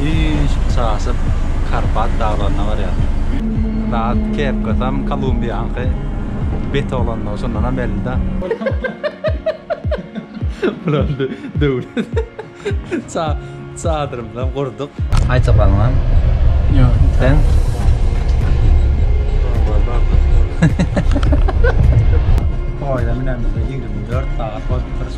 Hiç çaşyp Karpat daglaryna barýar. Zat kepkasam Kolumbiýaňky bet oglanlar şundanam bellida. Bular döwlet çadyrymyzam gurduk. Aýta galňam. Ýok. Sen? Poýda münemizde ýigrimi dört sagat bolup durşy.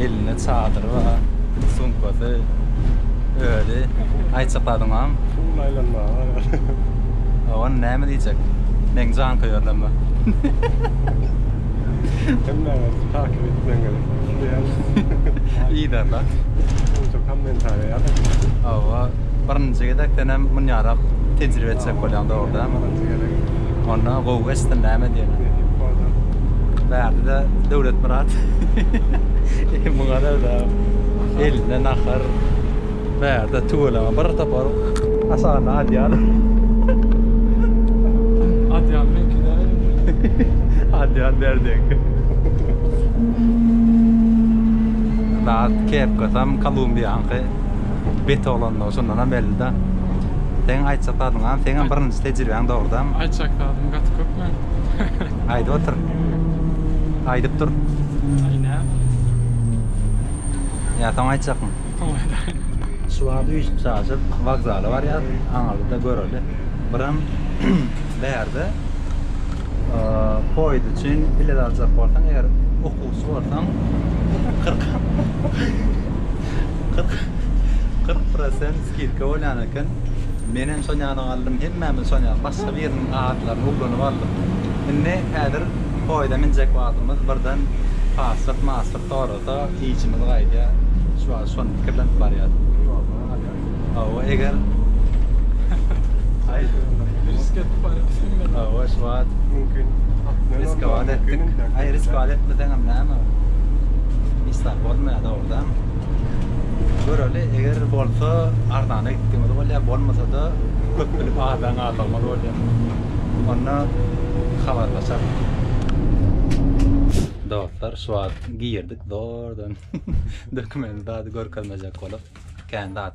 Elinde çadyry bar, sumkasy, özi. Aýtjak zadymam. Pul aýlanmaga barýar. Oňa näme diýjek? Meň janköýerlerime. Hemmäňiz takyp etmäň gerek. Yzarda. Şuňa-da kommentariýa ýazyň. Hawa, birinji gezek senem munýarak tejribe etjek bolýaň dogry dälmi? Onda gowy geçsin näme diýen. Bärde de Döwletmyrat. Muňa da elinde nahar. Bärde tüweleme bir topar aşagynda adýal. Adýal meňki däl. Adýal bärdeňki. Zat kepkasam Kolumbiýaňky. Beti olandygy şundanam belli-de. Seň aýtjak zadyň az. Seňem birinji tejribäň dogrudanam. Aýtjak zadym gaty köp men. Aýdyp otur. Aýdyp dur. Aý näme? Ýa soň aýtjakmy? Soň aýdaýyn. Şu wagt üýşüp çaşyp wokzala barýas. Aňyrda göreli. Birem bärde poýiz üçin bilet aljak bolsaň eger okuwçy bolsaň kyrk kyrk prosent Kirke bolýan eken. Menem şol ýana galdym. Hemmämiz şol ýana. Başga biriniň atlaryny ugranyp aldyk. Indi häzir poýda minjek wagtymyz birden paslyk-maslyk sorasa, işimiz gaýdýa. Şu wagt şony pikirlenip barýas. Ýolda galýas. Hawa, eger Aý, risk edip barýas diňe. Hawa, şu wagt Mümkin. Risk-a-bat etdik. Aý, risk-a-bat etmeseňem näme? Hiç zat bolmaýa-da. Bizem göreli eger bolsa arzana gitdigimiz bolýar bolmasada köp bilip azdan aldygymyz bolýar. Onda habarlaşarys. Dostlar şu wagt girdik zordan dokument zady görkezmejek bolup kän zat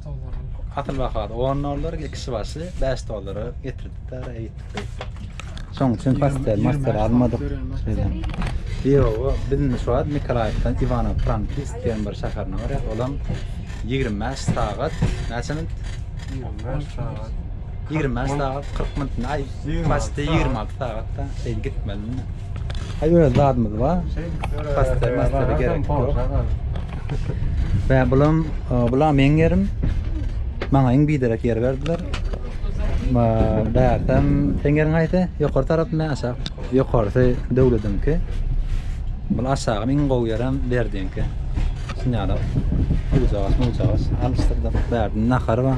Asyl bahasy 10 dollar, kişi başy 5 dollara getirdik de araya gittik beýtdik. Şoň üçin pastel, mastel almadyk. Şeýle. Ýoga, biziň şu wagt Nikolaýewden Iwanow Frankis diýen bir şäherine barýar. Olam 25 sagat, näçe minut? 25 sagat. Ýigrimi bäş sagat, kyrk minut, aý, paçti ýigrimi alty sagatda şeýdip gitmelini. Aý, öz zadymyz bar. Paçtary, maçtary gerek ýok. Bä, bulam, bulam meň ýerim. Maňa iň biderek ýer berdiler. Bä, bärsäm, seň ýeriň haýsy? Ýokary tarapmy, aşak? Ýokarysy döwlediňki. Bul aşagam iň gowy ýerem berdiňki. Şuny ýaly, ujagas-mujagas alyşdyrdym. Bärde nahar bar.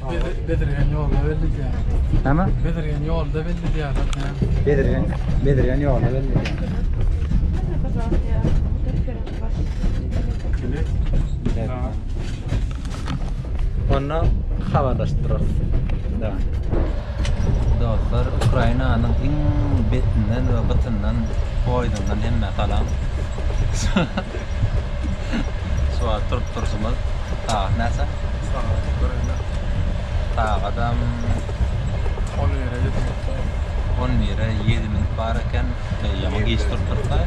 Bedirgen ýolda belli diýýär. Näme? Bedirgen ýolda belli diýýär. Bedirgen, Bedirgen ýolda belli diýýär. Onda habarlaşyp durarys. Da. Dostlar, Ukrainanyň iň betinden we gytyndan poýzundan hemme salam. Suwat turup turşumyz. Sagat näçe? Sagat göreli. Sagadam 11-e 7 minut bar. 11-e 7 minut bar eken. Ýa geç turup tursa.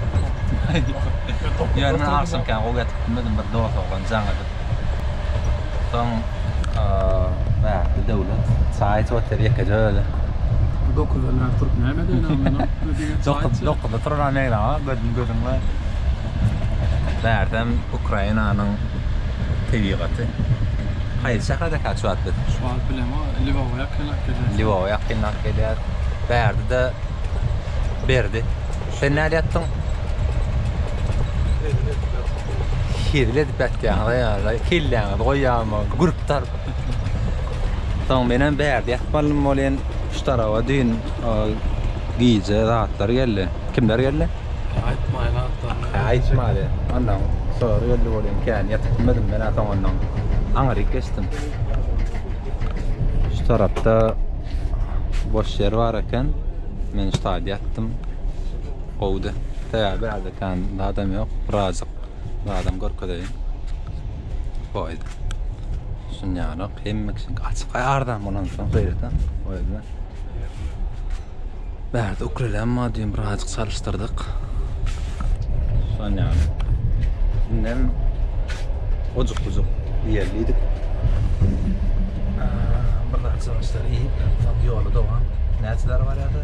Ýa men agşamkam gowy ýatyp bilmedim bir dost oglan jaň edip. Soň Mähri döwlet çaý içip otyr ýekeje özi. Dokuzda biraz turup näme edeli onda? Dokuz, dokuzda turulan meňzama gözüm gözüňde. Megerem Ukrainanyň tebigaty. Haýsy şäherde ekeni şu wagt biz? Şu wagt bilemo, Lwowa ýakynrak gelýär. Lwowa ýakynrak gelýär. Bärde-de Berdi. Sen nädip ýatdyň? Hezil edip ýatýaňyz-a ýaly, kelläňizi goýýarmy, gürpdar. Soň menem bärde ýatmalym welin, şu taraba düýn gije zatlar geldi. Kimler geldi? Aýtmaýyn atlaryny. Hä, aýtmady. Onnoň sorag geldi welin, kän ýatyp bilmedim men-ä soňundan. Aňryk geçdim. Şu tarapda boş ýer bar eken. Men şu taýda ýatdym. Gowudy. Sebäbi ädikän zadam ýok. Birazjyk zadam görkezeýin. Poýda. Düşünýänok. Hemme kişiňki açyk. Aý arzan bolansoň gaýrata. O ýerde. Bärde ukulelem bar düýn birazjyk çalyşdyrdyk. Şonýaly. Indem ojuk-bujuk iýerlidik. Bir zat çalyşdyr iýip, soň ýola dowam. Näçe zar barýardy?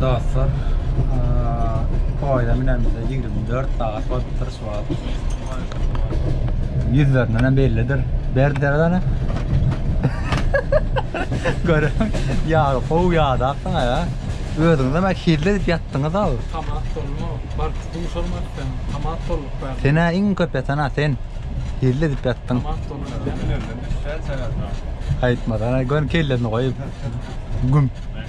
Dostlar, poýda münenimize ýigrimi dört sagat bolupdyr şu wagt. Ýüzlerindenem bellidir. Berdi derezäni. Görüň, ýagy gowy ýadapsyň aga. Özüňizem hilli edip ýatdyňyz-ow. Tomat bolma, bark duşarmady sen. Tomat bolyp bar. Sen-ä iň köp ýatan-a sen. Hilli edip ýatdyň. Tomat bolma. Aýtmasana, gör kellerini goýup. Güm.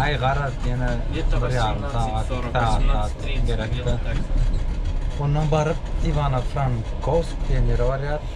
Aý garaz ýene bir ýarym sagat, iki sagat gerekdi. Ondan baryp Iwano-Frankovsk diýen ýere barýarys.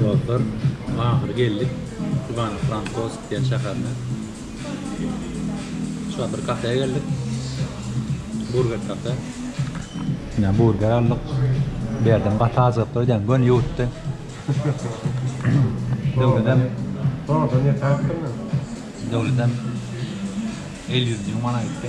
Dostlar ahyry geldik Ivano Frankows diýen şäherine. Şular bir kafeýe geldik. Burger kafe. Ýa burger aldyk. Bu ýerden gaty azygyplar edýän göni ýuwutdy. Döwledem. Döwledem el ýüzüni ýuwmana gitdi.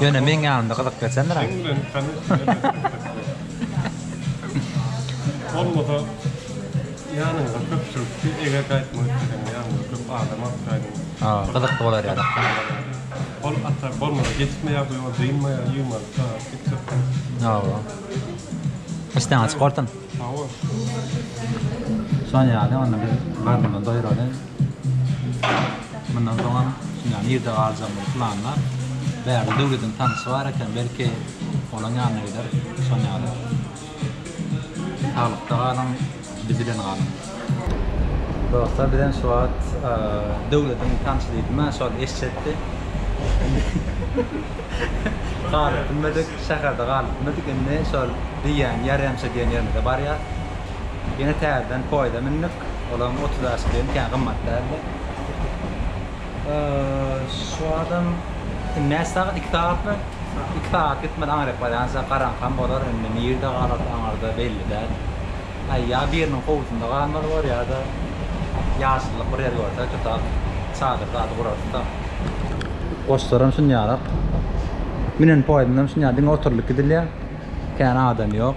Ýöne meň ýanymda gyzyp geçendiräk. Mundan soňam ýa nirde galjakdygyny planlap, bärde Döwlediň tanşy bar eken, belki, olaň ýanyna gider. Şon ýaly. Saglykda galyň, biz bilen galyň. Dostlar, bizem şu wagt Döwlediň tanşy diýdim-ä, şol eşşetdi. Indi galyp bilmedik, şäherde galyp bilmedik, indi şol diýýän, ýarýamşa diýen ýerimize barýas. Ýene täzeden poýda mündik. Olaň otuz ýaşy bilen kän gymmat däldi. Şu adam näçe sagat? Iki sagatmy? Iki sagat gitmeli aňryk barýança garaňkam bolar, indi nirde galarys aňyrda belli däl. Aý, ýa biriniň howlusynda galmaly bor, ýa-da ýaşyllyk bir ýer görsek tutar, çadyr zady gurarys-da. Goşlaram şunýarak. Münen poýuzynam şunýa diňe oturylyp gidilýär. Kän adam ýok.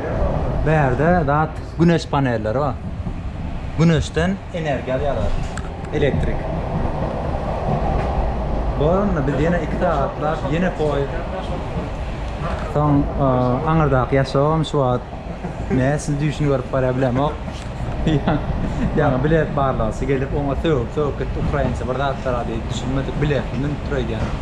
Bärde zat güneş panelleri bar. Güneşden energiýa alýarlar. Elektrik. Bolanda biz ýene 2 sagatlap ýene poýzd. Soň aňyrdaky ýaşawym şu wagt näme siz düýşüni görüp barýar bilemok. Ýaňy bilet barlagsy gelip oňa sögüp sögüp gitdi ukrainçe bir zatlara diýip düşünmedik biletli münüpdir öýdýän.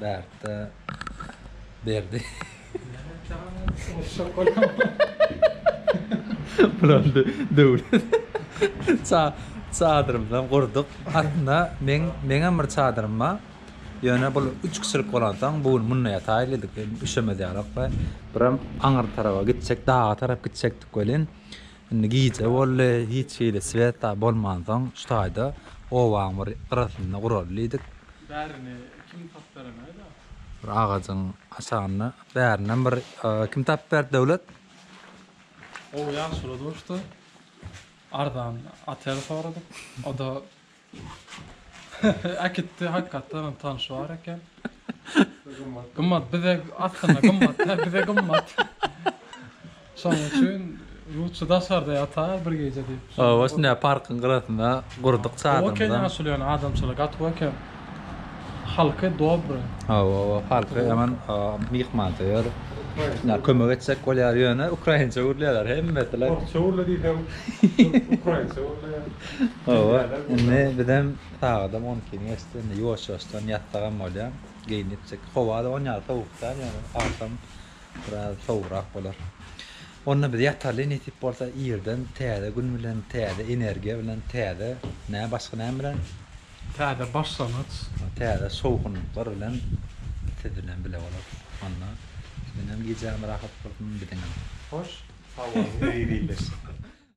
Bärtde Berdi. Bulandy Döwlet. Ça çadyrymyzam gurduk. Aslynda meň meňem bir çadyrym bar. Ýöne bul üç kişilik bolansoň bu gün munda ýataýlydyk. Üşemez ýalak we birem aňyrda tarapa gitjek, daga tarap gitjekdik welin, Indi gije boldy, hiç hili sweta bolmansoň şu taýda obaň bir gyrasynda guraly diýdik. Bärini kim tapyp beremeýdä? Bir agajyň aşagynda bärinden bir kim tapyp berdi Döwlet? Gowy ýagşylygy duşdy. Arzan otel soradyk. O-da Äkitdi hakykatdanam tanşy bar eken. Gymmat bize aslynda gymmat da bize gymmat. Şonuň üçin lutşy daşarda ýatar bir gije diýip. Hawa şunda parkyň gyrasynda gurduk çadyrymyzy. Gowy eken ýaşuly ýöne adamçylygy gaty gowy eken. Halky dobry. Hawa hawa halky ýaman myhmansöýer. Şunda kömek etjek bolýar ýöne ukrainçe gürleýärler hemmesi. Orsça gürle diýseň ukrainçe gürleýär. Hawa, indi bizem sagadam on ikini geçdi. Indi ýuwaş-ýuwaşdan ýatsagam bolýar. Geýinipjik. Howa-da on ýaly sowuk däl, ýöne agşam biraz sowugrak bolar. Onda biz ýataly, nesip bolsa, irden täze gün bilen, täze energiýa bilen, täze nä, başga näme bilen? Täze başlangyç. Täze şowhunlyklar bilen siz bilen bile bolarys. Onda siziňem gijäňiz rahat bolsun, biziňem. Hoş, howanyň ezizleşsin.